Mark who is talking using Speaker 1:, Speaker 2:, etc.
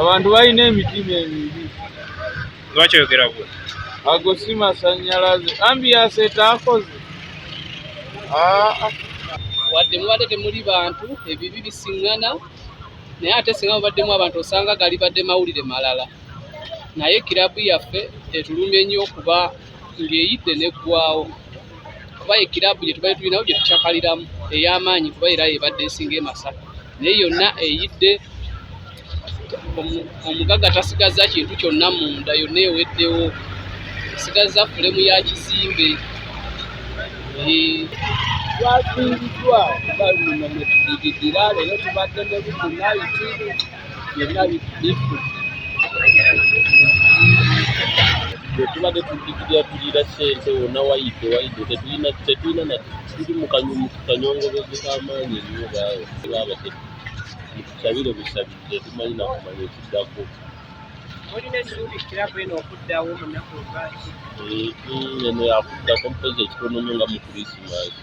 Speaker 1: abantu balina emitima emibi lwaki
Speaker 2: oyogera bwe ago si
Speaker 1: masanyalaze ambiyasi etaakoze
Speaker 3: wadde mubadde temuli bantu ebibi bisiŋŋana naye ate singa mubaddemu abantu osanga galibadde mawulire malala naye kirabu yaffe etulumye nnyo okuba ng'eyidde n'eggwawo kuba ye kiraabu gye tubadde tulinawo gye tucakaliramu ey'amaanyi kuba era yebadde esinga emasaka naye yonna eyidde omugagga tasigazza kintu kyonna munda yonna eweddewo esigazza fulemu ya kizimbe
Speaker 1: twafiiriddwa nga luno mwe tudigiddira leero tubadde ne bukunayiti byonna bifu tubadde tudikirira tulira sente wona wayidde wayidde tetulina tetulina na tuli mu kanyongobezo k'amaanyi ennyo baawe baaba mutusabire busabirize tumanyi nakumanya ekiddako olina esuubi
Speaker 4: kirabu eno okuddawo mu nnaku olwaki
Speaker 1: eno yakuddako mpozi ekitonono nga mu krisimaasi